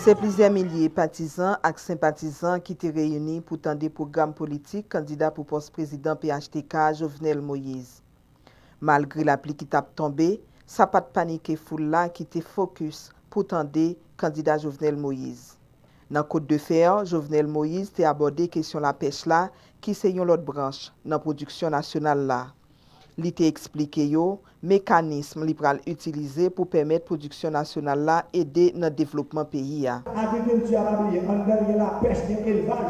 Se plizyè milye patizan ak senpatizan ki te reyini pou tande pwogram politik kandida pou pòs prezidan phtk a Jovenel Moïse. Malgre lapli ki t ap tonbe, sa pa t panike foul la ki te fokis pou tande kandida Jovenel Moïse. Nan Côte de fer, Jovenel Moïse te abòde kesyon lapèch la ki se yon lòt branch nan pwodiksyon nasyonal la. Li te eksplike yo mekanism li pral itilize pou pèmèt pwodiksyon nasyonal la ede nan devlopman peyi a. Agrikilti a pa bliye anndan l gen lapèch, gen elvaj.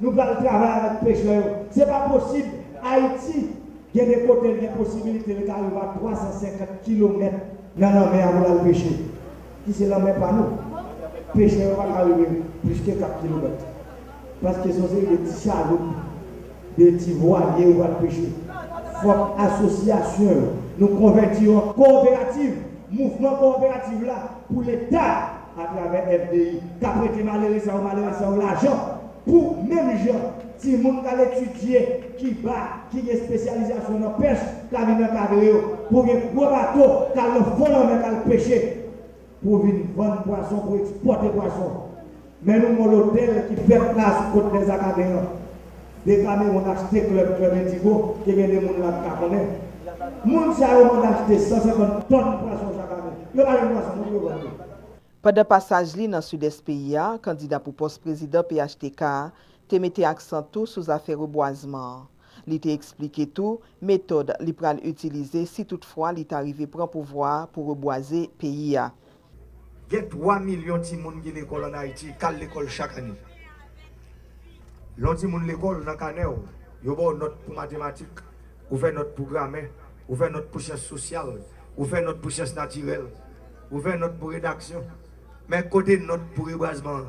Nou pral travay avèk pechè yo. Se pa posib Ayiti gen de kote l gen posibilite l ka rive a 350 kilomèt nan lanmè a pou l al peche. ki se lanmè pa nou, pechè yo pa ka rive plis ke 4 kilomèt, paske se yon seri de ti chaloup, de ti vwalye yo pral peche. Fòk asosyasyon yo, nou konvèti yo an kowoperativ, mouvman kowoperativ la, pou Leta, atravè FDI, ka prete malere sa yo, malere sa yo lajan, pou menm jan. Timoun k al etidye Kiba ki gen espesyalizasyon nan pèch ka vin ankadre yo pou gen gwo bato k al nan fon lanmè k al peche pou vin vann pwason, pou ekspòte pwason. Men nou gon lotèl ki fèt la sou kot Lès Akaden an. Dekamewon achte klèb, Club Indigo, ke gen de moun la ki ka konnen. Moun sa yo mande achte 150 tòn pwason chak ane. Yo pa jwenn pwason non pou yo vann li. Pandan pasaj li nan Sidès peyi a, kandida pou pòs prezidan phtk a, te mete aksan tou sou zafè rebwazman an. Li te eksplike tou metòd li pral itilize si tout fwa li ta rive pran pouvwa a pou rebwaze peyi a. Gen 3 milyon timoun ki lekòl an Ayiti, k al lekòl chak ane. Lè yon timoun lekòl, nan kanè w, yo ba w nòt pou matematik, ou fè nòt pou gramè, ou fè nòt pou syans sosyal, ou fè nòt pou syans natirèl, ou fè nòt pou redaksyon. Men, kote nòt pou rebwazman an?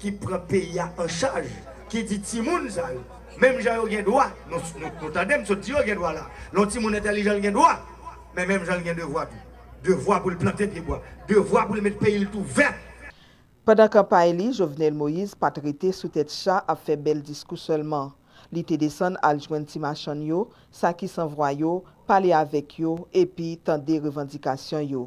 ki pran peyi a an chaj, ki di timoun sa yo, menm jan yo gen dwa, nou tande m sot di yo gen dwa la, lè yon timoun entèlijan l gen dwa, men menm jan l gen devwa tou. Devwa pou l plante pye bwa, devwa pou l met peyi l tou vèt. Pandan kanpay li, Jovenel Moïse pa t rete sou tèt cha ap fè bèl diskou sèlman. Li te desann al jwenn ti machann yo, sa ki san vwa yo, pale avèk yo epi tande revandikasyon yo.